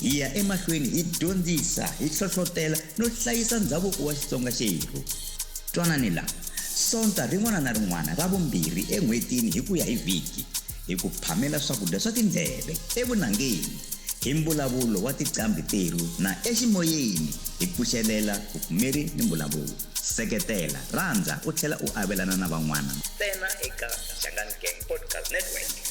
Hi ya emahlweni hi dyondzisa, hi hlohlotela no hlayisa ndhavuko wa Xitsonga xerhu. Twanani la, Sonta rin'wana na rin'wana ra vumbirhi en'hwetini hi ku ya hi vhiki, hi ku phamela swakudya swa tindleve, evunangeni, hi mbulavulo wa tiqambhi terhu na eximoyeni hi pfuxelela vupfumeri ni mbulavulo. Seketela, rhandza u tlhela u avelana na van'wana. Ntsena eka Shangani Gang Podcast Network.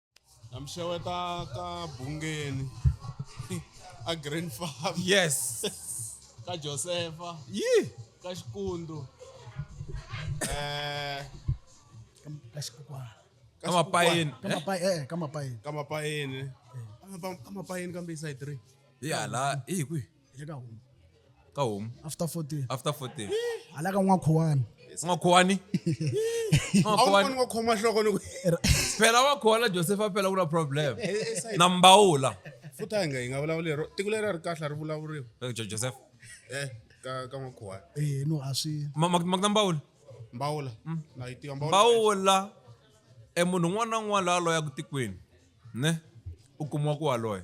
na mi xeweta ka bungeni a grand farm yes ka josefa yi ka xikundu eh ka xikukwana ka ka mapayeni ka mapayi eh ka mapayi ka mapayeni ka mapayeni kambe i side three ya la i hi kwihi hi le ka home ka home after 14 after 14 hala ka n'wa khowani singakhowani awukoni wa khoma nhloko loko phela wa khona joseph a phela ku na problem na mbawula futhi a hi nga hi nga vulavuli hi ro tiko leri a ri kahle a ri vulavuriwa Jo- joseph e ka ka n'wakhuwana eh no a swi ma ma- ma ku na mbawula mbawula na yi tiva mbawula mbawula e munhu un'wana na un'wana la a loyaku tikweni ne u kumiwa ku wa loya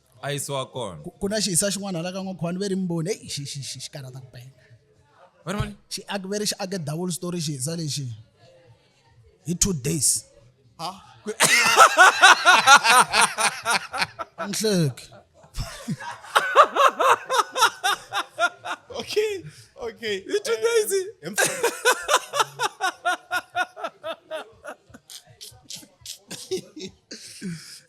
a yisiwa kona Ku- ku na xihisa xin'wana hala ka n'wakhwani ve ri mboni eyi xi- xi- xi- xi karhata ku penga Va ri vona? xi ake ve ri xi ake double story xihisa lexi hi two days nhleki okay okay Hi two days.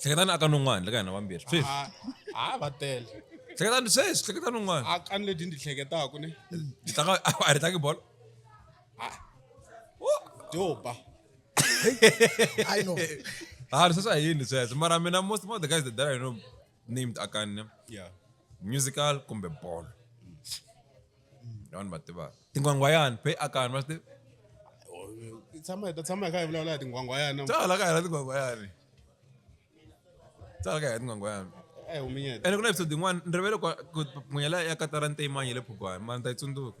hleketani aka nun'wana le ka hina vambirhi sweswi ha ha va tele hleketani sweswi hleketa nun'wana a kani leti ndzi hleketaku ne Ndzi tlanga a ri tlangi bolo doba I know. ha sweswi a yini sweswo mara mina most of the guys that I know named akane yeah musical kumbe bolo vanhu va tivaka tin'wangwayani phe akani va swi tivi Hi tshama hi ta tshama hi kha hi vulavula hi tinghwangwayana tsala ka hela tin'wangwayani tsala ka hela tin'wangwayani eh huminyeta ene ku na episode yin'wana ni rivele ku- ku phunyela ya katara nteyimanyi le phugwani mara ni ta yi tsundzuka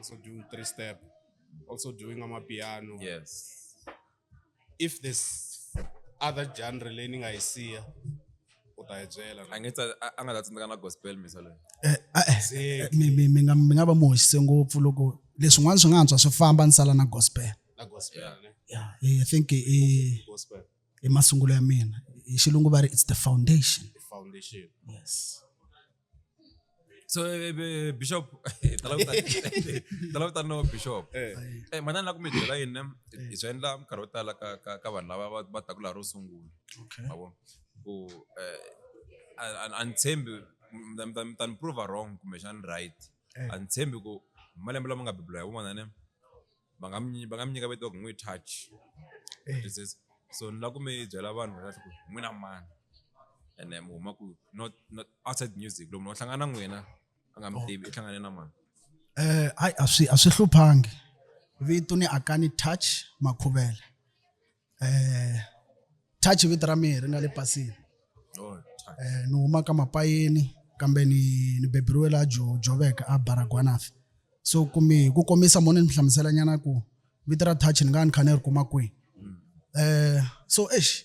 also doing three step, also doing on my piano. Yes. If there's other genre learning I see, what I jail. I guess I nga that's not gospel misalo. Eh, eh mi mi mi nga mi nga ba mohise ngopfu loko leswin'wana swi nga antswa swi famba ni sala na gospel. Na gospel. Yeah. Yeah, I think eh gospel. i masungulo ya mina hi xilungu va ri it's the foundation the foundation yes so eh, eh, bishop talava tani no bishop eh. eh manana la ku mi byela yini hi swi endla minkarhi yo tala ka ka ka vanhu lava va taku laha ro sungula mavo ku a ni tshembi mi ta ni prova wrong kumbexani right a ni tshembi ku malembe lama nga bibula hi wun'wana ne va nga mi va nga mi nyika vito ku n'wi touch so ni lava ku mi byela vanhu va ku n'wina mani ene mi huma ku not not outside music loko munhu a hlangana na n'wina a nga mi tivi i hlangane na mani eh hayi a swi a swi hluphangi vito ni akani touch makhuvela eh touch vito ra mina ri nga le pasini oh, eh ni huma ka mapayeni kambe ni ni beberiwe la jo joveka a baragwanafi so kumi ku komisa mona ni hlamusela nyana ku vito ra touch ni nga ni khane ri kuma kwi mm. eh so eish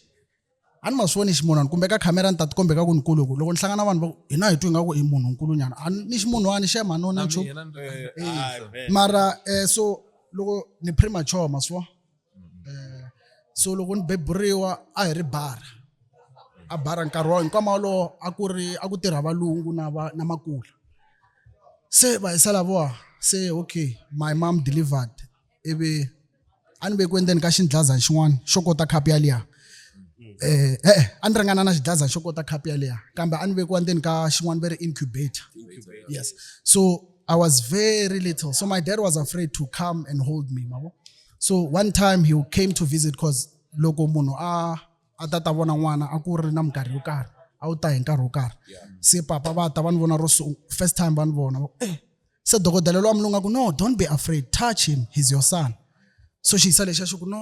a ni ma swi voni ximunhwana kumbe ka khamera ni ta tikombe ka ku ni kuluku loko ni hlangana vanhu va hina hi twi nga ku i munhu nkulunyana a ni ximunhwani xe manona nchu eh, eh, mara um so loko ni premature ma swi um so loko ni beburiwa a hi ri bara a bara nkarhi wa hinkwama wolowo a ku ri a ku tirha valungu na va na makula se va hi salavowa se okay my mom delivered ivi a ni ve ku endzeni ka xindlazani xin'wana xo kota khapu yaliya eh eh a ni ringana na xidlaza xo kota khapu yaleya kambe a ni vekiwa ndzeni ka xin'wana ve ri incubator yes so i was very little so my dad was afraid to come and hold me mavo so one time he came to visit cause loko munhu a a ta ta vona n'wana a ku ri na minkarhi yo karhi a wu ta hi nkarhi wo karhi se papa va ta va ni vona ro first time va ni vona eh se dokodela lowa mulungu a ku no don't be afraid touch him he's your son so xiyisa lexi a xi ku no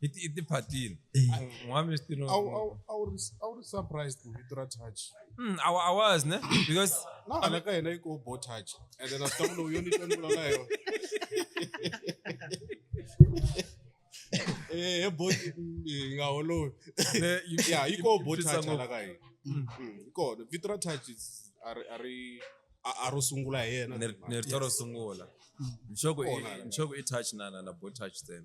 i ti- i tiphatile Eh. Ah, n'wami swi tino- Awu- awu- awu ri- awu ri surprised hi vito ra touch Mm, I wa- I was ne because na hala ka hina yi ko bo touch ende na swi lowu yo ni twa ni vulavula hi yona Eh, he bo eh, hi nga holovi the- you- ya yi you- ko you bo twisa touch ngopfu. hala ka hina Mm, yi kona vito ra touch is- a ri- a ri a- a ro sungula hi yena Ni- ni rito ro sungula nxoko i- Kona hala. nxoko i touch na na na bo touch then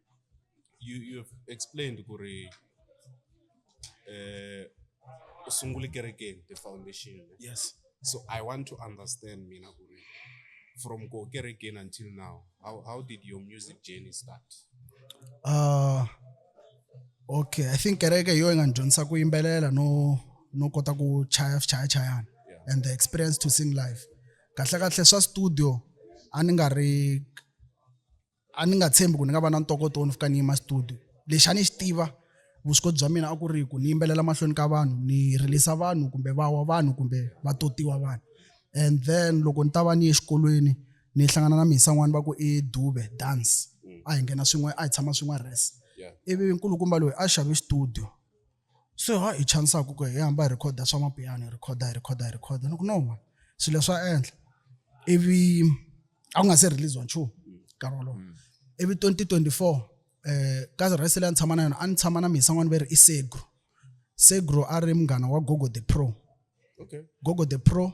you you have explained ku ri eh u sungule kerekeni the foundation ne? yes so i want to understand mina ku ri from ko kerekeni until now how, how did your music journey start uh, okay i think kereke hi yo yi nga ni dyondzisa ku yimbelela no no kota ku chaya swichayachayana Yeah. and the experience to sing live kahle kahle swa studio a ni nga ri a ni nga tshembi ku ni nga va na ntokoto wo ni fika ni yima studio lexi a ni xi tiva vuswikoti bya mina a ku ri ku ni yimbelela mahlweni ka vanhu ni rilisa vanhu kumbe va wa vanhu kumbe va totiwa vanhu and then loko ni ta va ni ye exikolweni ni hlangana na mhisa n'wana va ku i dube dance mm. a hi nghena swin'we a hi tshama swin'we res ivi nkulukumba loyi a xave studio so ha hi chanisaka ku hi hamba hi rhikhoda swa mapiyano hi rhikhoda hi rhikhoda hi rhikhoda ni ku no ma swilo leswi a endla ivi a ku nga se release wa nchumu nkarhi wolowo mm. ivi 2024 um eh, ka rhesi leyi a ni tshama na yona a ni tshama na misa n'wana va ri i segro segro a ri munghana wa gogo the pro okay. gogo the pro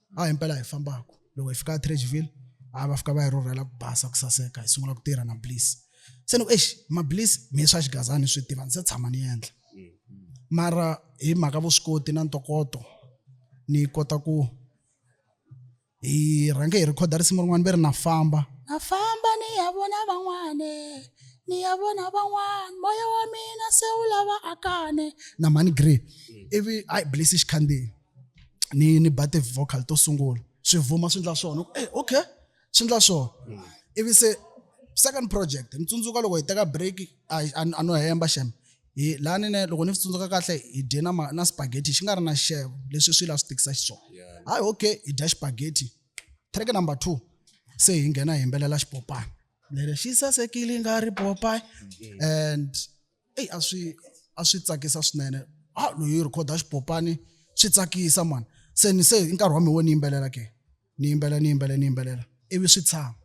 a hi mpela hi fambaka loko hi fika etrageville a va fika va hi rhurhela ku basa ku saseka hi sungula ku tirha na bliss se ni ku exi mabliss mi swa xigazani swi tiva ndzi se tshama ni endla mara hi mhaka vuswikoti na ntokoto ni kota ku hi rhange hi rhikhoda risimu rin'wana ve ri na famba na famba ni ya vona van'wane ni ya vona van'wana moya wa mina se wu lava akane na mani grey ivi a yi blisi xikhandziyi ni ni ba ti-vocal to sungula swi vuma swi endla swona e eh, okay swi endla swona mm. ivi se second project ni tsundzuka loko hi teka break a no hemba xeme hi laha nine loko ni swi tsundzuka kahle hi dye na na spaghetti xi nga ri na xixevo leswi swi la swi tikisa xiswona hayi okay hi dya xipaghetti track number two se hi nghena hi yimbelela xipopana lero xi sasekile nga ri popayi mm-hmm. and eyi a swi a swi tsakisa swinene a loyi u rhikhoda xipopani swi tsakisa mani se ni se i nkarhi wa mina wo ni yimbelela ke ni yimbelela ni yimbelela ni yimbelela ivi swi tshama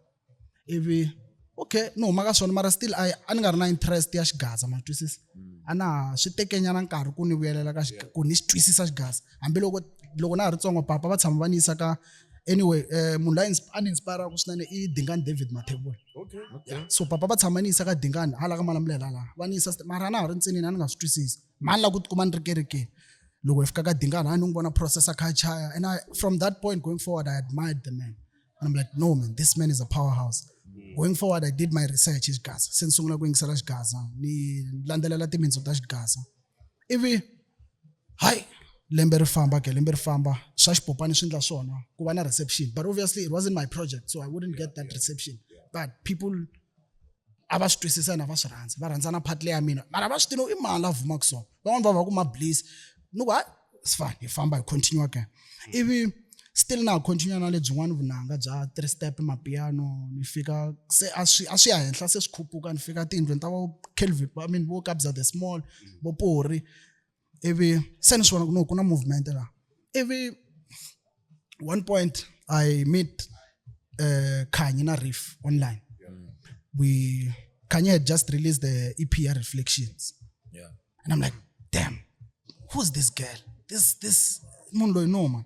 ivi okay ni huma ka swona mara still a a ni nga ri na interest ya xigaza ma twisisa a na ha swi tekenyana nkarhi ku ni vuyelela ka ku ni xi twisisa xigaza hambiloko loko na ha ri ntsongo papa va tshama va ni yisa ka anyway um munhu la a ni inspiraka swinene i dingani david mathebula so papa va tshama ni yisa ka dingani hala ka malamulela laha va ni yisa mara na ha ri ntsinini a ni nga swi twisisi mhani la ku tikuma ni ri kerekeni loko hi fika ka dingani a ni n'wi vona processa kha chaya and I, from that point going forward i admired the man and i'm like no man this man is a powerhouse mm. going forward i did my research hi xigaza se ni sungula ku yingisela xigaza ni landzelela timintsu ta xigaza ivi hayi lembe ri famba ke lembe ri famba swa xipopani swi endla swona ku va na reception but obviously it wasn't my project so i wouldn't get that reception but people a va swi twisisa na va swi rhandza va rhandza na part leya mina mara va swi tiva i mani la vumaka so van'wani va va ku ma bliss ni ku hayi sifane hi famba hi continue again ivi still na ha continue na lebyin'wana vunanga bya three step mapiano ni fika se a swi a swi ya henhla se swi khuphuka ni fika tiyindlwini ta vo kelvin i mean vo kabza the small vo pori ivi se ni swi vona ku no ku na movement laha ivi one point i meet uh, khanyi na riff online we khanyi had just released the ep ya reflections and i'm like damn who's this girl this this munhu loyi no man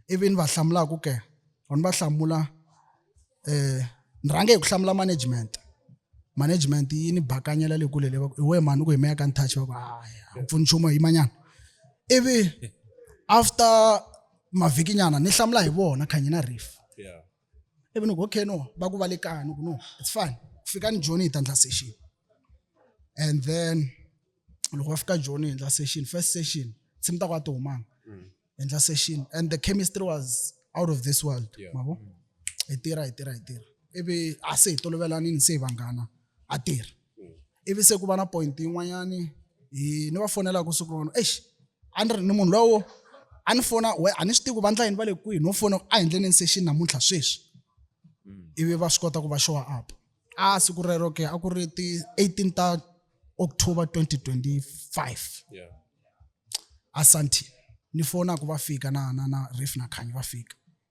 ivi ni va hlamulaka ke or ni va hlamula eh ni rhange hi ku hlamula management management yi ni bakanyela le kule levaku iwe mani u ku himeya ka ni touch va ku haya a pfuni nchumu yimanyana ivi after mavhikinyana ni hlamula hi vona khanyi na riff ivi ni ku okay no va ku va le kaya ni ku no it's fine fikani joni hi ta endla session and then loko va fika joni hi endla session first session se mi ta ku a ti humanga mm. hi endla session and the chemistry was out of this world mavo hi tirha hi tirha hi tirha ivi a se hi tolovelanini se hi vanghana a tirhi ivi se ku va na point yin'wanyani hi ni va fonelaka siku rona exi a ni ri ni munhu lowo a ni fona we a ni swi tivi ku vandla yini va le kwihi no fona a hi ndleleni se xi namuntlha sweswi ivi va swi kota ku va showa up a siku rero ke a ku ri ti 18 ta october 2025 yeah. asanti ni fona ku va fika na na na ref na khanyi va fika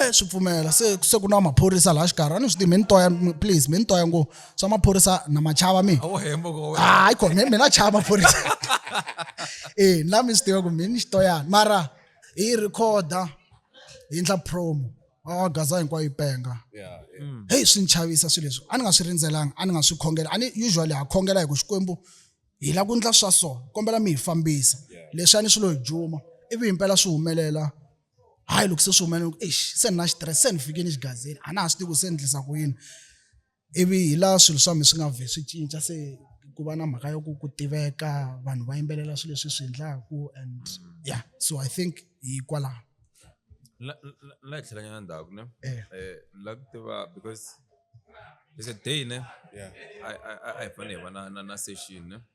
e swi pfumela se se ku na maphorisa laha xikarhi a ni swi tivi mi ni toya please mi ni toya ngo swa maphorisa na machava mi hayi kona mi na chava maphorisa e la mi swi tiva ku mi ni xitoyana mara hi rhikhoda hi ndla promo a gaza hinkwayo yi penga mm. heyi swi ni chavisa swilo leswi a ni nga swi rindzelanga a ni nga swi khongela a ni usually ha khongela hi ku xikwembu hi la ku ndla swa so kombela mi hi fambisa leswi a ni swi lo hi juma ivi himpela swi humelela hayi loko se swi humelela ku eish se ni na xitirese se ni fike ni xigazini a na ha swi tivi ku se ni endlisa ku yini ivi hi laha swilo swa mi swi nga vhe swi cinca se ku va na mhaka ya ku ku tiveka vanhu va yimbelela swilo leswi swi endlaku and yeah so i think hikwalaho la la hi tlhelanyana ndzhaku ne eh. eh la ku tiva because it's a day ne a hi fanele hi va na na na session ne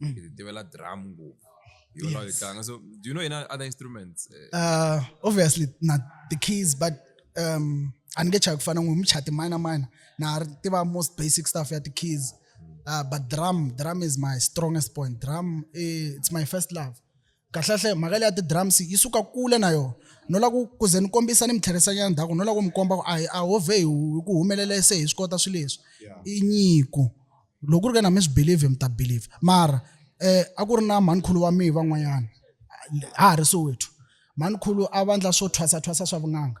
mm. hi tivela drum ngopfu yes. so do you know any other instruments uh, uh, obviously not the keys but um a ni nge chayi ku fana n'wi muchati mina mina na ha tiva most basic stuff ya ti-keys uh, but drum drum is my strongest point drum eh, it's my first love kahlekahle mhaka leya ti-drums yi suka kule na yona no lava ku ku ze ni kombisa ni mitlherisanyana ndhaku no lava ku mi komba ku a hi a ho vhe hi ku humelela se hi swi kota swilo leswi i nyiko loko ku ri ke na mi swi believe mi ta believe mara um a ku ri na mhanikhulu wa mihi van'wanyana ha ha ri sowethu mhanikhulu a vandla swo thwasathwasa swa vun'anga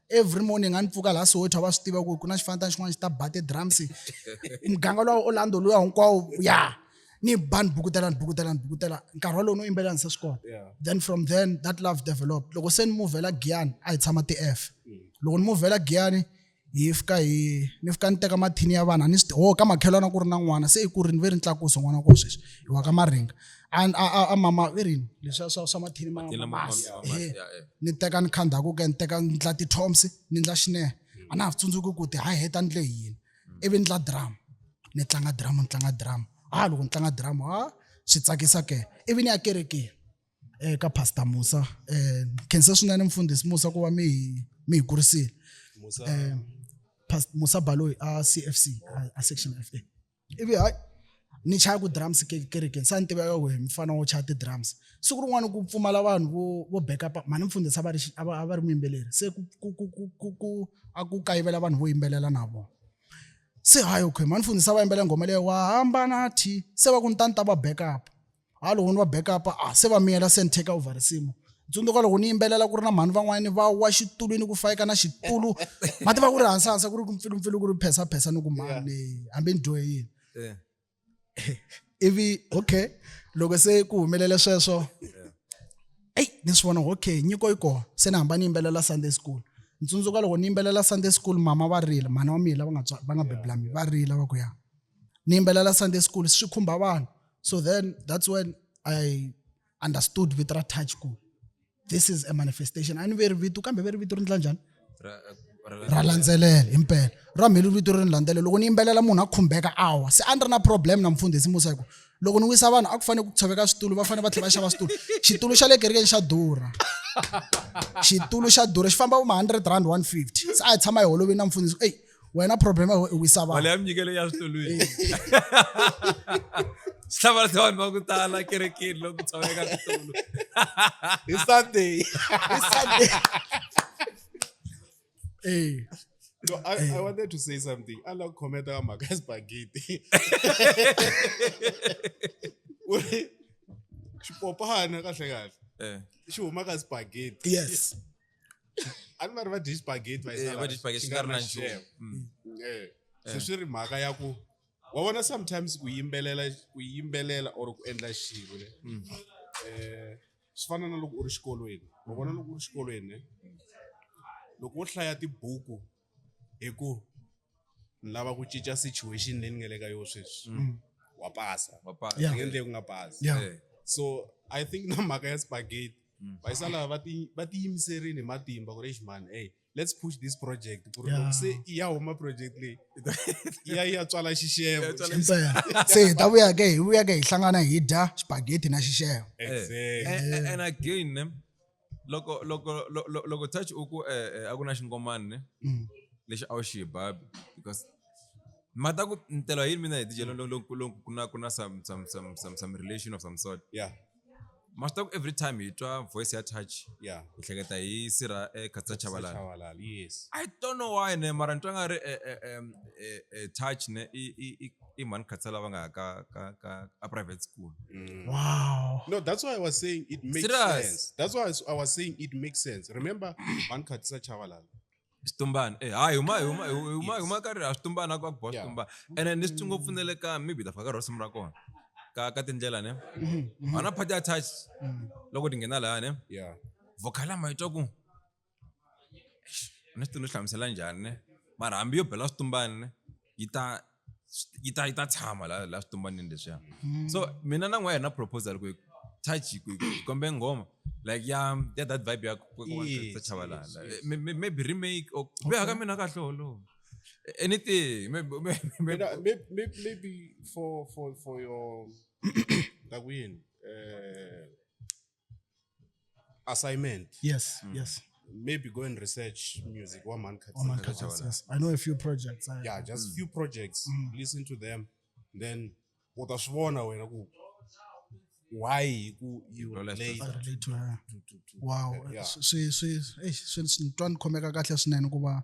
every morning a ni pfuka laha soweto a va swi tiva ku ku na xifanatana xin'wana xi ta ba ti-drums muganga lowa orlando luya hinkwawo ya ni ba ni bukutela ni bukutela ni bukutela nkarhi walowu no yimbelela ni se swi kona then from then that love developed loko se ni muvhela giyani a hi tshama ti-f mm. loko ni muvhela giyani hi fika hi ni fika ni teka mathini ya vanhu a ni swi ho ka makhelwana ku ri na n'wana se i ku ri ni ve ri ni tlakusa n'wana wa kona sweswi hi wa ka maringa and a a a mama i rini leswiya swa swa mathini ma Mathini lama- mamasi ma- ma- ehe. ya, eh. ni teka ni kha ndhaku ke ni teka ni ndla ti-toms ni ndla xinehe a na ha swi tsundzuki ku ti ha heta ni le hi yini ivi ni ndla drama ni tlanga drama ni tlanga drama ha loko ni tlanga drama ha swi tsakisa ke ivi ni ya kerekeni eh, ka pastor musa eh, khense swinene mfundhisi musa ku va mi hi- mi hi kurisile eh, Pas- musa baloyi a cfc a- a section fa ivi hayi ni chaya ku drums kerekeni sa ni tiveka ku hi mufana wo chaya ti-drums siku rin'wana ku pfumala vanhu vo vo backupa mhani mfundhisi a va ri a va a va ri muyimbeleri se ku ku ku ku ku ku a ku kayivela vanhu vo yimbelela na vona se hayi okay mhani mfundhisi a va yimbelela nghoma leyi wa hamba na thi se va ku ni ta ni ta va backup ha loko ni va backup a se va miyela se ni take over risimu tsundzuka loko ni yimbelela ku ri na mhani van'wanyani va wa xitulwini ku fayeka na xitulu ma tiva ku ri hansahansa ku ri ku mpfilumpfilu ku ri phesa-phesa ni ku mani hambi ni dyohe yini ivi okay loko se ku humelele sweswo eyi ni swi vona okay nyiko yi kona se ni hamba ni yimbelela sunday school ni tsundzuka loko ni yimbelela sunday school mama va rila mhani wa mina lava nga va nga bebulami va rila va ku ya ni yimbelela sunday school swi khumba vanhu So then that's when I understood with ra touch school. This is a manifestation. And very vitu kambe very vitu rindla njani? ra landzelela hi mpela ra mheli vito ri ni landzelela loko ni yimbelela munhu a khumbeka awa se a ni ri na problem na mfundhisi musa hi ku loko ni wisa vanhu a ku fanele ku tshoveka switulu va fanele va tlhela va xava switulu xitulu xa le kerekeni xa durha xitulu xa durha xi famba vo ma-hundred rand one fifty se a hi tshama hi holovini na mfundhisi eyi wena problem ya wena i wisa mali vanhu ya minyikelo ya switolweni swi hlamarisa vanhu va ku tala kerekeni loko ku tshama eka switolo hi sunday Hi Sunday. Eh, No, I, I wanted to say something. I love comment on my guys spaghetti. Uri, Xipopana kahle kahle. Eh, Xi huma ka spaghetti. yes ani vari vadyi spageti eh, vadyi spageti nga ri na nchumu mm. mm, eh, se eh. swi ri mhaka ya ku wa vona sometimes ku yimbelela ku yimbelela or ku endla xilo ne mm. um swi fana na loko u ri xikolweni wa vona loko u ri xikolweni ne loko wo hlaya tibuku hi ku ni lava ku cinca situation leyi ni nga le ka yona sweswi mm. wa pasa wa pasa yeah. ngendle ku nga pasa yeah. yeah. so i think na mhaka ya spaghetti mm. vayisa lava va ti va ti yimiserini hi matimba ku ri xi mani hey let's push this project ku ri loko se i ya huma project leyi i ya ya tswala xixevo se hi ta vuya ke hi vuya ke hi hlangana hi dya spaghetti na xixevo exactly and, and again loko loko lo- lo- loko touch u ku eh, eh, a ku na xingomani ne Mm. lexi a wu xi babi because ma ta ku ntelo yini mina hi tijelo lo- lo- lo- ku na ku na some some some some some relation of some sort yeah ma swi ta ku every time hi twa voice ya touch yeah hi hleketa hi sira ekhatsa chavalala Chavalala, yes i don't know why ne mara ni twa nga ri eh, eh, em, eh, eh, touch ne i- i- i- i mhani khatsa lava nga ya ka ka ka a private school mm. wow no that's why i was saying it makes Serious? sense that's why i was saying it makes sense remember mhani khatisa chavalala xitumbana eh hayi huma huma huma huma ka ri a xitumbana ku ku boha xitumbana ene ni switsongo pfunele ka maybe ta faka rosimu ra kona ka ka tindlela ne mm-hmm. ana phati attach mm-hmm. loko ti nghena laha ne yeah vokhala ma itwa ku ni swi ti ni hlamusela njhani ne mara hambi yo bela switumbani ne yi ta yi ta yi ta tshama la la switumbanini leswiya hmm. so mina na n'wa yena proposal ku touch ku kombe nghoma like ya ya that vibe ya ta chavalala maybe remake or be haka mina kahle holowo anything maybe maybe maybe for for for your like win uh assignment yes mm. yes maybe go and research music wa mhani khathini yes i know a few projects I, yeah just mm. few projects mm. listen to them then u ta swi vona wena ku why ku you relate to, to, to, to, wow swi swi swi swi twa ni khomeka kahle swinene ku va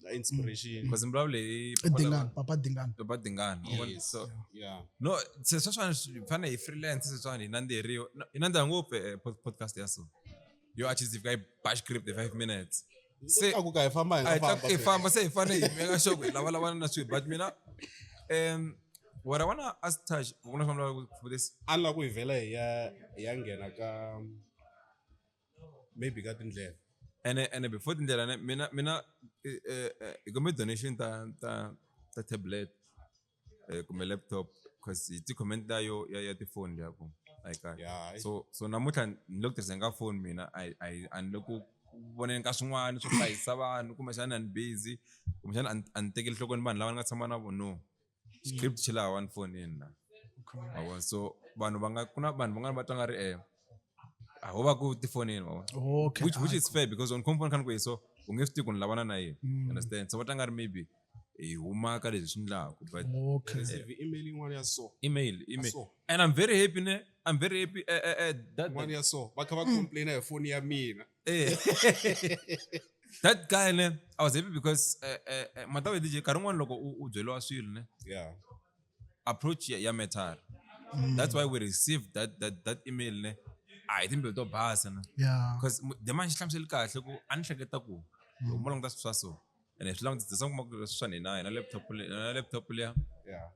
Like inspiration. because mi vulavule hi papa lava- dingani papa dingani papa dingani u vona? Yes. so Yeah. no se sweswiwani swi fana hi freelance sweswiwani hi nandziheriwa no, hi nandziha ngopfu eh, pod- podcast ya so yo a chizifika hi bash grip the five minutes se Seka ku ka hi famba hi a hi nga tlakuke hi famba. famba se hi fane hi meka xoko hi lavalavana na swilo but mina um what i wanna ask tash kuna swa mlava for this Alla ku hi vhela hi ya hi ya nghena ka maybe ka tindlela ene ene before tindlela ne mina mina eh, eh, eh, hi kumbe donation ta ta ta tablet eh, kumbe laptop cause hi ti-comment ta yo ya ya tifoni liya ku a yi kahle Yeah, hayi. so so namuntlha ni le ku tirhiseni ka foni mina a yi- a yi- a ni le ku voneni ka swin'wana swo hlayisa vanhu kumbexana a ni busy kumbexana a ni- a ni tekeli nhlokweni vanhu lava ni nga tshama na vona no script xi laha one phone in na mavona so vanhu va nga ku na vanhu van'wana va tlanga ri eh a ho va ku tifonini mavona okay which which is fair because on compound kan ku so u nge swi tivi ku ni lavana na yini mm. understand so va tlanga ri maybe hi humaka leswi swi ndlaku but okay eh, email yin'wana ya so email email and i'm very happy ne i'm very happy eh, eh, eh, that one ya so va kha va complaina hi phone ya mina Eh. that guy ne i was happy because eh, eh, eh, mhaka yo dj nkarhi un'wana loko u u byeriwa swilo ne Yeah. approach ya, ya metal that's why we received that, that, that email ne a hi timbilu to basa ne yeah because the man xi hlamuseli kahle ku a ni hleketa ku loko mo languta swilo swa so and as long as as long as maku swa ni na na laptop le na laptop le ya yeah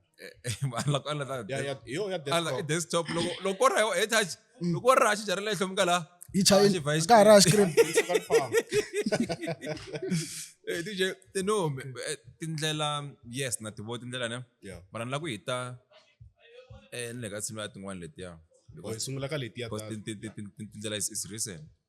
ala ko ala ta yeah yeah yo ya desktop ala desktop loko loko ra yo e touch mm. loko ra xi jarele hlo mukala yi chayi ka ra screen eh DJ te no eh, tindlela yes na tivo tindlela ne yeah mara ni la ku hita eh ni le ka tshimi ya tin'wana letiya hi sungula ka letiya tindlela is recent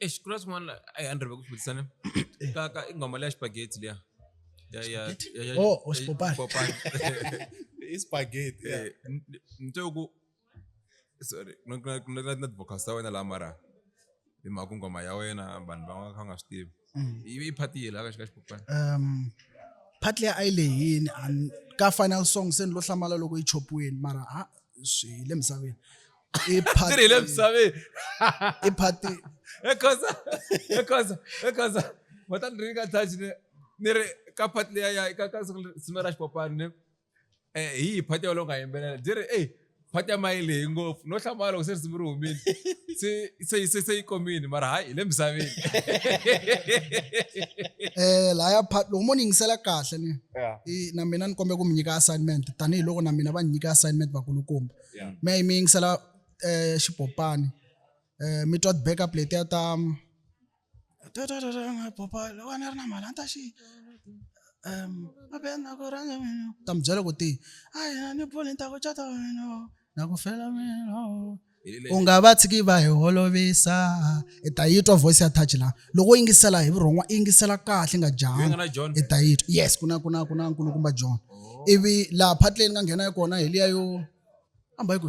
Eish, kuna swin'wana la- ai, a ni rheve ku vutisa ni ka ka i nghoma leya xipageti liya Ya- ya- ya- ya- Oh, oh, xipopani. xipopani. i spaghetti yeah. Eh, n- n- nto ku sorry no- no- no- no- no vocals ta wena laha mara hi mhaka ku nghoma ya wena vanhu va nga kha va nga swi tivi ivi i phati yela ka xi ka xipopani um part leyi a yi lehini and ka final song se ni lo hlamala loko yi chopiweni mara ha swi hi le misaveni i party ri hi le misaveni i party ekhosa ekhosa ekhosa matani ri ka touch ne ni ri ka party leya ya ka ka siku ra xipopani ne eh hi hi party yolo nga yimbelela byi ri ey party ya mayile hi ngopfu no hlamala loko se risimu ri humile se se yi se se yi komile mara hayi hi le misaveni eh laya part loko mo ni yingisela kahle ni Yeah. i- na mina ni kombela ku mi nyika assignment tanihiloko na mina va ni nyika assignment vakulukumba Yeah. mi ya yi mi yingisela um xipopani um mi twa ti-backup letiya ta ta mi byela ku ti a hi na ni pfuni ni ta ku cata wena na ku fela mina u nga va tshiki va hi holovisa i ta yi twa voice ya touch la loko u yingisela hi vurhon'wa i yingisela kahle nga janga i ta yi twa yes ku na ku na ku na nkulukumba john oh. ivi laha phatleni nga nghena kona hi liya yo famba hi ku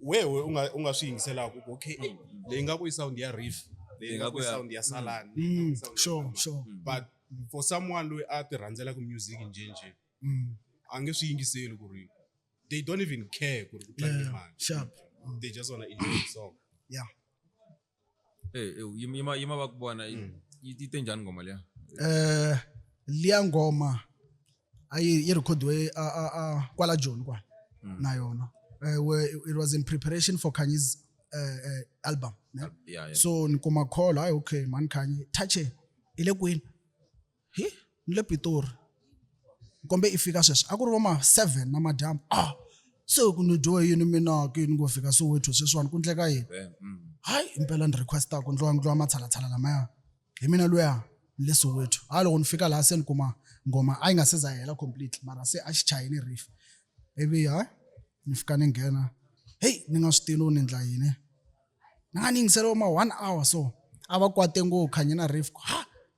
wehe u nga u nga swi yingiselaka ku okay eh, leyi nga ku i sound ya riff leyi nga ku i sound ya salani leyi nga ku i sound ya sure Samba. sure but for someone loyi a ti rhandzelaku music njhenjhe Mm. a nge swi yingiseli ku ri they don't even care ku ri ku tlange yeah mani sharp they just wanna enjoy the song yeah Eh, eh, yima yima- yima va ku vona yi yi- yi te njhani ngoma liya eh liya ngoma a yi yi rekhodiwe a a a kwala joni kwala na yona eh we- it was in preparation for kanyi's eh, eh, album ne? Yeah, yeah. so ni kuma call hayi okay mani kanye touche ile kwini hi ni le pitori kombe i fika sweswi a ku ri vo ma seven na madyambu ah se ku ni dyowe yini mina ke ni ngo fika soweto sweswiwani ku ndleka yini hayi impela ni requesta ku ndliwa ndliwa matshalatshala lamaya hi mina luya ni le soweto hayi loko ni fika laha se ni kuma ngoma a yi nga se za hela completely mara se a xi chayini riff ivi hayi ni fika ni nghena heyi ni nga swi tilo ni ndla yini ni nga ni yingiseriwa ma one hour so a va kwate ngo khanye na riff ha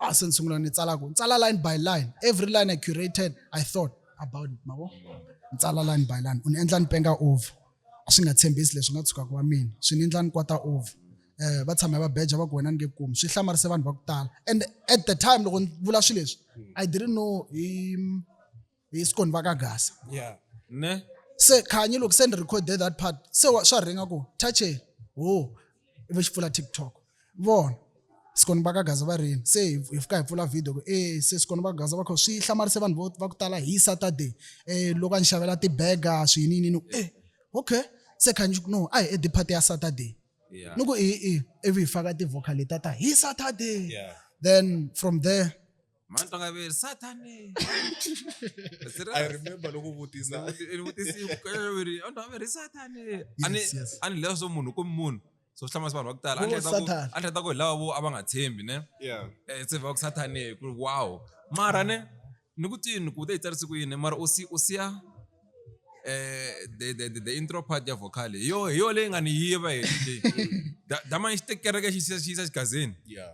ah se ni sungula ni tsala ku tsala line by line every line i curated i thought about it mavo ni tsala line by line u ni endla ni penga over a swi nga tshembisi leswi nga tshukaka wa mina swi ni endla ni kwata over um va tshame va beja va ku wena ni nge kumi swi hlamarise vanhu va ku tala and at the time loko ni vula swilo leswi i didn't know hi hi swi koni va ka gasa yeah ne se khanyi loko se ni recorde that part se swa ringa ku touche ho oh, ivi xi pfula tiktok vona sikoni va ka gaza va rini se hi fika hi pfula video ku e se sikoni va ka gaza va kho swi hlamarise vanhu vo va ku tala hi saturday um loko a ni xavela tibega swiyininini e eh, okay se khanyi no a hi edipati ya saturday ni ku i i ivi hi faka ti-vocal leta ta hi saturday then from there mani tonga veri satani i remember loko vutisa vutisieri mani tonga veri satani ani lava swo munhu ku munhu so swi hlamasi vanhu va ku tala a hleta ku hi lava vo a va nga tshembi ne eh, se va ku satani ku wow mara ne ni ku tini ku te hi tsarisi ku yini mara u siya eh the the the, the intro part ya vocal hi yo hi yo leyi nga ni yiva hi Da- dama ni xitekereke xi xi- xi yisa xigazini Yeah.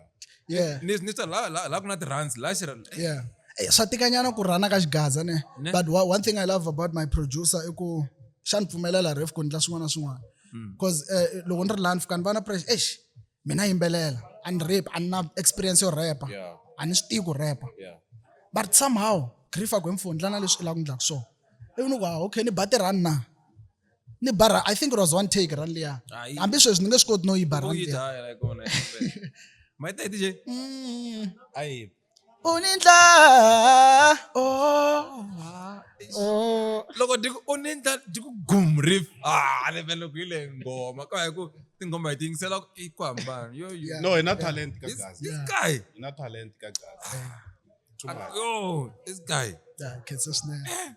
yeah ni ni swa la la la ku na ti runs la xi ra- yeah Eh, swa tikanyana ku rhana ka xigaza ne Ne. but wa- one thing i love about my producer i ku xa ni pfumelela ref ku ndla swin'wana na swin'wana bcause eh, loko ni ri laha ni fika ni va na pressure exi mina yimbelela a ni rap a ni na experience yo repa a ni swi tivi ku repa but somehow grifa ku emfundla na leswi i lava ku ndlaku swona ivi ni ku ah, okay ni ba tirhani na ni bara i think it was one take run liya hambi sweswi ni nge swi koti no yi ba run liya u ni ndla oh, oh. loko dyi ku u ni ndla dyi ku gum riff ah ni vele ku yi le nghoma ka hi ku tinghoma hi ti yingisela ku i ku hambana yo yo no hi na talent ka this gaza this guy hi na talent ka gaza too much yo this guy Yeah, khensa swinene.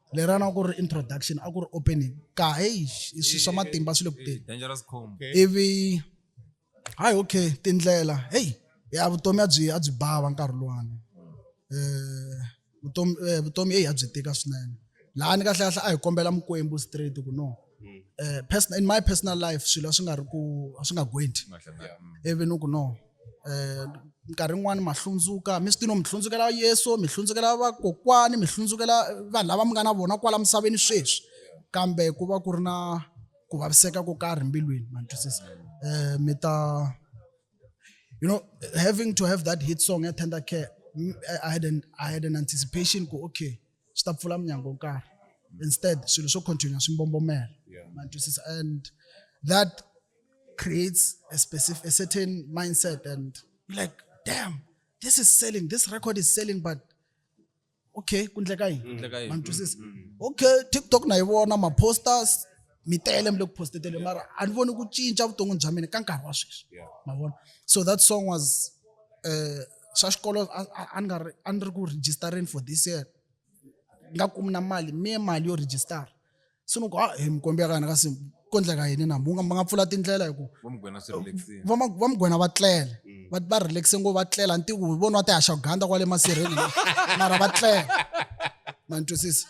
lera na ku ri introduction a ku ri opening ka heyi i swilo swa matimba swi le ku teni ivi hayi okay tindlela heyi ya vutomi a byi a byi bava nkarhi luwani um vutomi um vutomi heyi a byi tika swinene lahani kahlekahle a hi kombela mikwembu straight ku no mm. in my personal life swilo a swi nga ri ku a swi nga gwendi ivi ni ku no um nkarhi yin'wani ma hlundzuka mi swi tino mi hlundzukela yesu mi hlundzukela vakokwani mi hlundzukela vanhu lava mi nga na vona kwala misaveni sweswi kambe ku va ku ri na ku vaviseka ko karhi mbilwini ma ni twisisa um mi ta you know having to have that hit song ya tender care I had an, I had an anticipation ku okay swi ta pfula munyango wo karhi instead swilo swo continue swi mbombomela ma twisisa and that creates a specific a certain mindset and like damn this is selling this record is selling but okay kundleka yini ma twisisa okay tiktok na yi vona ma posters mi tele mi le ku postetele mara a ni voni ku cinca vuton'wini bya mina ka nkarhi wa sweswi ma vona so that song was um swa xikolo a ni nga ri a ni ri ku registereni for this year nga kumi na mali mi ye mali yo register se ni ku a hi mikombi ya ka hina ka simu ko ndleka yini na munga ma nga pfula tindlela hi ku va mugwena va tlele mm. va va relaxe ngo va tlela ntiku hi vona va tihaxa ganda kwale masirheni mara va tlela ma ni twisisa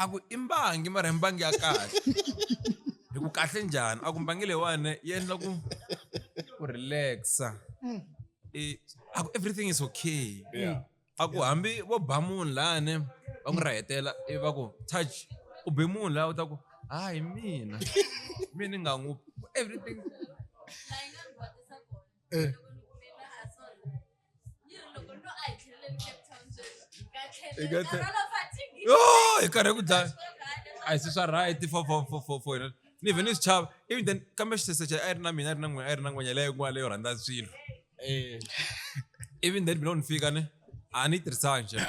a ku i mbangi mara hi mbangi ya kahle hi ku kahle njhani a ku mbangi leyiwani yi endla ku ku relaxa I- a ku everything is okay Yeah. a ku hambi vo ba munhu lani va n'wi rahetela ivi va ku touch u be munhu laha u ta ku hayi mina mi ni nga n'wi everything hi karhi ku dlaya a hi se swa right for for for for for hina ni vhe ni swi chava ivi then kambe xisese xa a yi ri na mina a ri na n'wina a ri na n'wenya leyo kun'wana leyo rhandza swilo ivi then mina loko ni fika ni a ni yi tirhisanga xana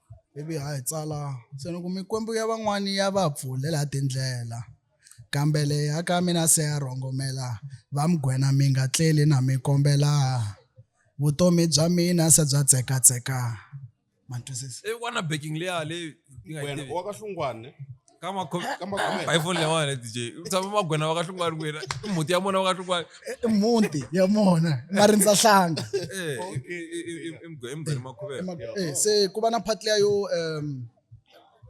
ivi ha yi tsala se ni ku mikwembu ya van'wani ya va pfulela tindlela kambe leyi ya ka mina se ya rhongomela va mugwena mi nga tleli na mi kombela vutomi bya mina se bya tsekatseka ma twisisa i wanna backing leya leyi yi nga yi tivi. ka makhomeka hi foni lewa wena dj u tshama magwena wa kahlungwani wena i mhuti ya mona wa kahlungwani i mhuti ya mona marindza hlanga emugweni makhuveka se ku va na part leya yo um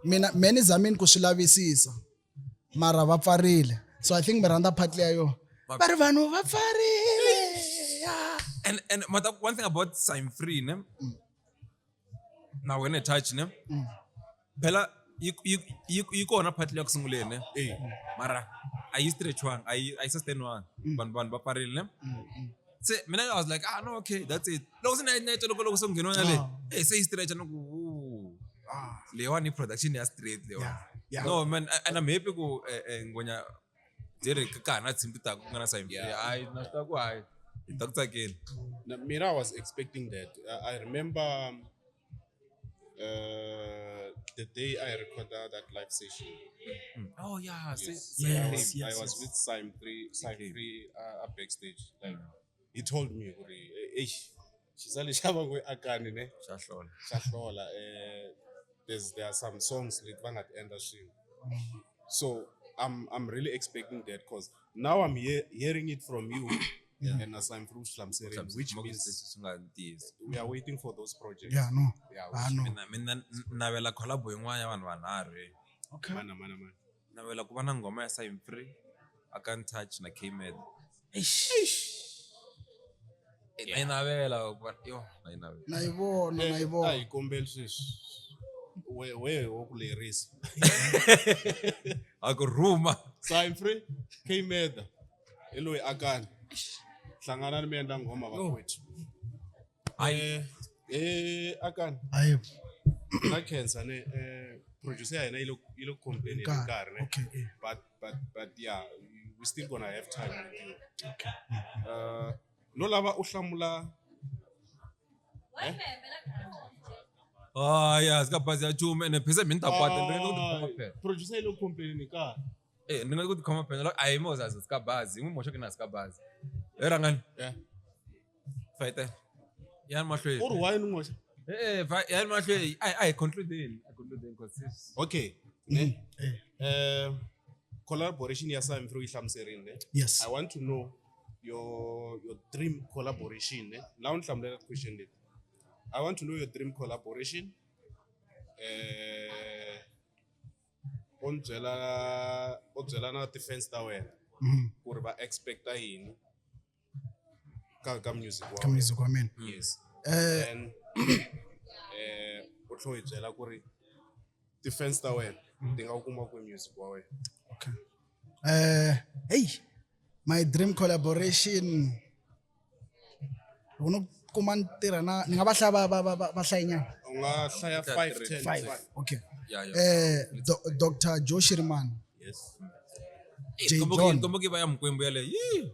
mina me ni zamini ku swi lavisisa mara va pfarile so i think mi rhandza part leya yo va ri vanhu va pfarile and and mata one thing about sign free ne mm. na wena touch ne mm. phela yi kona part leyi ya ku sunguleni ne eh. mara a yi stretchwanga a yi a yi sustainwanga mm. vanhu vanhu va parile ne mm, se mina i was like ah no okay that's it loko se na yi toloko loko se ngheniwa na le ah. eh se yi stretcha no ku ah. leyiwani i production ya straight leyiwani no man and i'm happy ku eh, eh, ngonya byi ri ka ha na tshimpi ta ku nga na sayimpi hayi na swi ta ku hayi hi ta ku tsakela mina i was expecting that i remember uh, the day I recorded that live session. Mm. Oh yeah, yes, yes, yes, yes, I was with Simon Three, Simon Three uh, backstage. Like mm. he told me, "Hey, Xisali xa va ngo akani ne xa hlola xa hlola eh there's there are some songs leti va nga ti endla swin'we so I'm I'm really expecting that cause now I'm he hearing it from you yeah. and as I'm through hlamuserini which means swi nga ntiyiso we are waiting for those projects yeah no yeah, ah, no. mina mina navela collabo yin'wana ya vanhu vanharhu okay mana mana mana Ni navela ku va na nghoma ya Sign Free, I Can't Touch na K-Med. Na yi navela ku va yo na yi navela. na yi vona na yi a vona hi kombeli sweswi we we wo ku lerisa A ku rhuma. sign free kmeda hi loyi akani hlanganani mi endla nghoma vakwethu Hayi. Eh, Eh akan. Hayi. Na cancer ne eh producer ya hina yi le yi le complain hi Nkarhi, nkarhi ne. okay, eh. But but but yeah, we still gonna have time with you. Okay. Uh no lava u hlamula Ah, ya zika bazi ya chuma ene phese mini ta kwata ndzi ku tikhoma Ay, phela. producer yi le complain hi nkarhi. Eh, ndzi ku tikhoma phela. Ayi mo zazi zika bazi, n'wi moxa ke na zika bazi. Eh rangani. Yeah. Faita. Ya mahlweni. Or why no moxa? Eh, eh ya mahlweni. I I conclude then. I conclude then because this. Okay. Mm. Eh. eh. eh collaboration ya Sam through ihlamuserini ne. Yes. I want to know your your dream collaboration ne. La unhlamulela question leti. I want to know your dream collaboration. Eh u ni byela u byela na ti-fans ta wena mm. ku ri va expecta yini ka ka music wa ka wena. music wa mina yes eh and eh u tlho hi byela ku ri defense ta wena ti nga wu kuma ku music wa wena okay eh hey my dream collaboration uno kuma ntirha na ni nga va hlaya va va va va- va hlayinyana u nga hlaya Ka 5 three, 10 five five. okay Yeah, yeah. eh Do- dr joshirman yes J. John. komboki baya mkwembu yale yii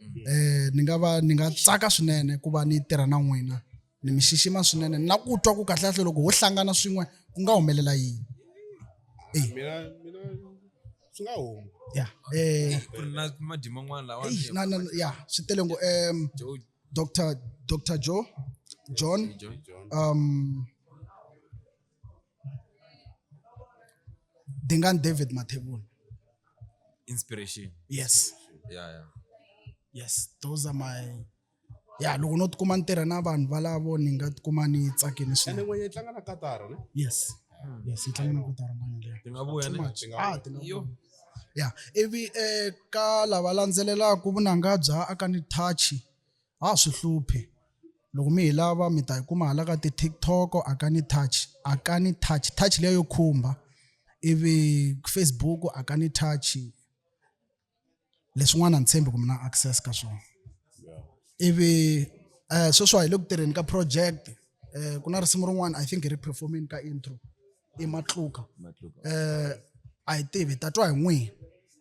mm-hmm. eh ni nga va ni nga tsaka swinene ku va ni tirha na n'wina ni mi xixima swinene na ku twa ku kahlekahle loko ho hlangana swin'we ku nga humelela yini eh. mina mina swi nga huma ya eh na madima n'wana lawa na na ya swi tele ngo em Dr Dr Joe John um Dingaan David Mathebula. Inspiration. Yes. Yeah, yeah. Yes, those are my ya loko no tikuma ni tirha na vanhu valavo ni nga tikuma ni tsakini swinene n'wenye yi tlanga na kataro ne yes hmm. yes yi tlanga na kataro n'wenye leyo ti nga vuya ne ah ti nga yo ya ivi eh ka lava landzelelaka vunanga bya aka ni touch a swi hluphi loko mi hi lava mi ta yi kuma hala ka ti-tiktok a ka ni touch a ka ni touch touch leyo yo khumba ivi facebook a ka ni touch leswin'wana ni tshembi ku mi na access ka swona ivi um sweswi wa hi le ku tirheni ka project um ku na risimu rin'wana i think hi ri performini ka intro i matluka matluka eh a hi tivi ta twa hi n'wina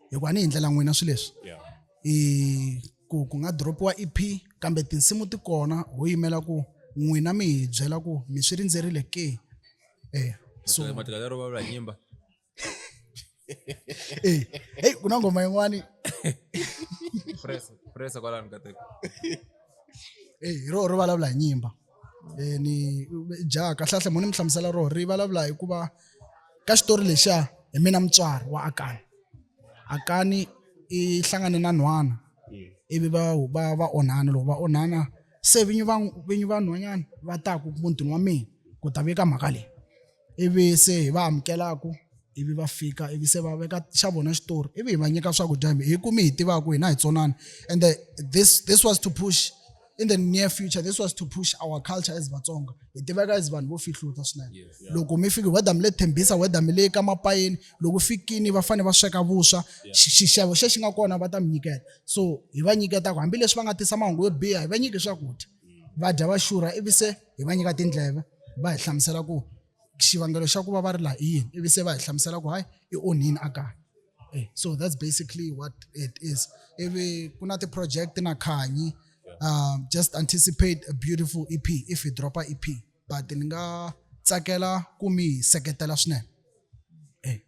hikuva ni hi ndlela n'wina swilo leswi yeah i ku ku nga dropiwa EP kambe tinsimu ti kona ho yimela ku n'wina mi hi byela ku mi swi rindzerile ke eh so matluka lero va vula nyimba hey, hey, kuna ngoma yin'wani Press- press kwalani ka teko. hey, ro ri vulavula hi nyimba Eh, ni ja kahlekahle mo ni mi hlamusela roho ri vulavula hikuva ka xitori lexiya hi mina mutswari wa akani akani i hlangane na nhwana ivi va va va onhana loko va onhana se vinyi va vinyi va nhwanyana va taku mutini wa mina ku ta vika mhaka leyi ivi se hi va amukelaka ivi va fika ivi se va veka xa vona xitori ivi hi va nyika swakudya hi hi kumi hi tivaka hina hi tsonani and the, this, this was to push in the near future this was to push our culture as vatsonga hi tiveka as vanhu vo fihluta swinene yes, yeah. loko mi fiki whether mi le thembisa whether mi le ka mapayeni loko fikini va fanele va sweka vuswa yeah. xixevo xexi nga kona va ta mi nyiketa so hi va nyiketaka hambileswi va nga tisa mahungu yo biha hi va nyiki swakudya va dya va xurha ivi se hi va nyika tindleve va hi hlamusela ku xivangelo xa ku va va ri laha i yini ivi se va hi hlamusela ku hayi i onhini a kaya eh, so that's basically what it is ivi ku na ti-project na khanyi um, just anticipate a beautiful ep if hi dropa ep but ni nga tsakela ku mi seketela swinene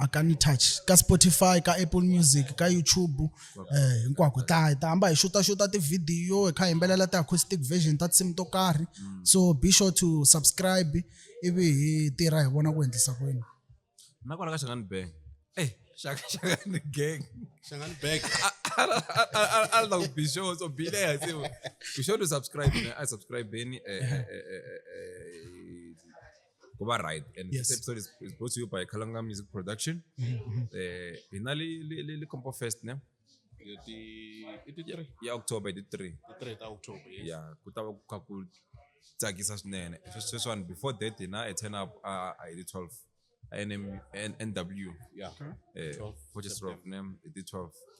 a ka ni touch ka spotify ka apple music ka youtube eh hinkwako ta ta hamba hi xuta xuta tivhidiyo hi kha hi yimbelela ti-acoustic version ta tinsimu to karhi mm. so be sure to subscribe ivi hi tirha hi vona ku endlisa kwini na kwala ka xangani bang eh xaka xangani gang xangani bang a la ku be sure so be there se be sure to subscribe i subscribe beni eh, eh, eh, eh, eh ku va right and yes. this episode is, is brought to you by Kalanga Music Production mm-hmm. eh hi na le le le Compo Fest ne ti ti tiri ya October ti 3 ti 3 ta October yes yeah ku ta va ku kha ku tsakisa swinene sweswiwani before that hina a turn up a hi ti 12 NM, NW yeah okay. eh, 12 for just rock name ti 12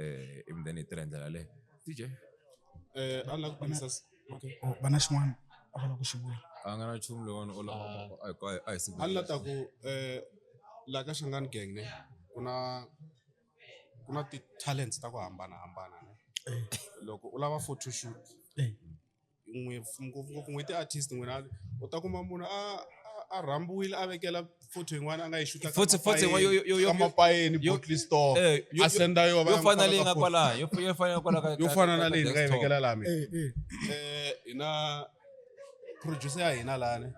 eh, ivi then hi tirha hi ndlela leyo dj Eh, a lava ku kombisa s- okay. Oh, va na xin'wana a va lava ku xi vula a nga na nchumu lowani u lava a hi ku- a hi- a hi siku a ni la ta ku eh, la ka xangani gang ne ku na ku na ti-talents ta ku hambanahambana ne loko u lava photoshoot Eh. ngopfungopfu n'wi ti-artist n'wina u ta kuma munhu a a rhambiwile a vekela photo yin'wana a nga yi xuta Futhi- futhi yin'wana yo- yo- yo- yo- kamapayeni yo- bottle store Eh, yo- a senda yo va yo ya fana n'wi leyi nga faka photo. kwalaya yo yo fana kwala ka yo ka- fana ka- na ka leyi ni nga yi desktop. vekela laha mina Eh, eh. Eh, hina producer ya hina lani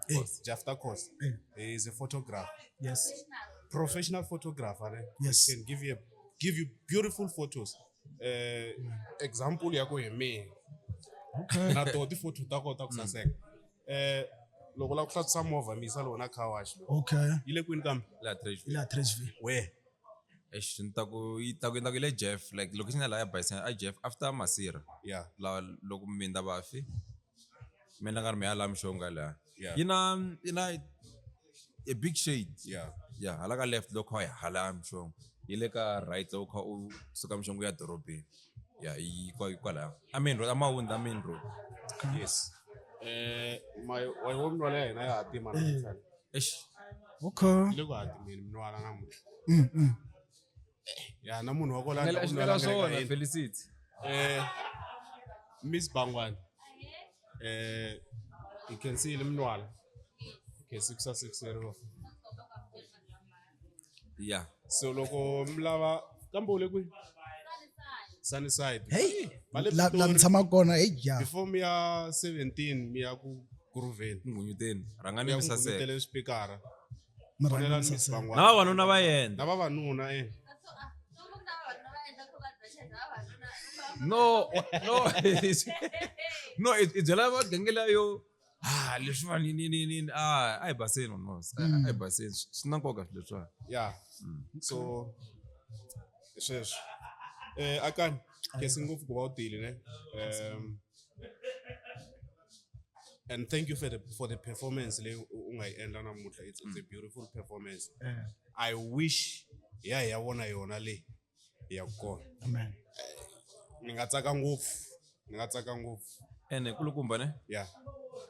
jafta cos he is a photographer Yes. professional photographer ne? Yes. can give you a, give you beautiful photos eh example ya ku hi mina na to ti photo ta kota ku mm. saseka eh loko la ku hlatisa movha misa lowu na car wash okay yi le kwini kambe la trash la trash we exi ni ta ku yi ta ku yi ta ku le jeff like loko xi nga la ya bayisana a jeff after masira yeah la loko mi ndavafi mi nga ri mi ya la mixonga la Yeah. yi na yi na a big shade Yeah. ya hala ka left loko kha yi hala mixongo yi le ka right loko kha u suka mixongo ya dorobeni ya yi kwa- yi kwalaya a main road a mawundi a main road yes Eh, my wa wo mntwana ya hina ya hatima namuntlha eish okay le ku hatimeni mntwana namuntlha Mm, mm. ya na munhu wa ku landla ku nwela swona felicity eh miss bangwani eh hi khensile minwala khesi ku sasekiseriwa ya so loko mi lava kambe u le kwihi sunnyside hey la mi tshama kona hey ja before mi ya 17 mi ya ku kuruveni ngunyuteni rhangani mi saseka mi ya ku ngunyutele swipikara Mi rhandza Vonelani mi Miss Bangwana. na vavanuna va yena Na vavanuna eh. no no no i i byela vagenge layo ah leswiwa ni ni ni ni ah a hi baseni no Mm. a hi baseni swi swi na nkoka swilo leswiwa Yeah. Mm. So hi sweswo. Eh akani kesi ngopfu ku va u tile ne. Um and thank you for the for the performance leyi u nga yi endla namuntlha it's, it's a beautiful performance eh. i wish ya hi ya vona yona leyi ya kona amen eh, ni nga tsaka ngopfu ni nga tsaka ngopfu ene kulukumba ne ya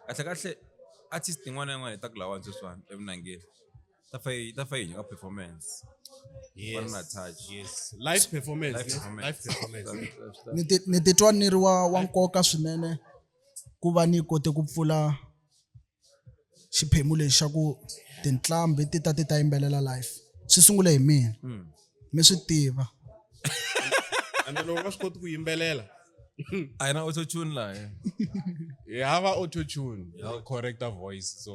kahle kahle artist yin'wana na yin'wana hi ta ku lawani sweswiwani eminangeni ta fa yi ta fa yi nga performance yes na touch yes live performance live performance, live performance. ni ti ni titwa ni ri wa wa nkoka swinene ku va ni kote ku pfula xiphemu lexi xa ku tinqambi ti ta ti ta yimbelela live swi sungule hi mina hmm. mi swi tiva and loko va swi koti ku yimbelela a yi na auto tune laha hi hava auto tune correcta voice so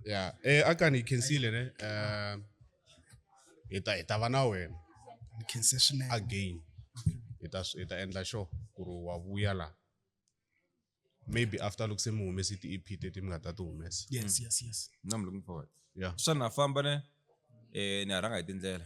ya eh akani hi khensile ne eh hi ta hi ta va na wena Ni khense swinene. again hi ta hi ta endla sure ku ri wa vuya la maybe after loko se mi humese ti-ep teti mi nga ta ti humesa Yes, yes, yes. Now I'm looking forward. Yeah. Xana famba ne eh ni ha rhanga hi tindlela.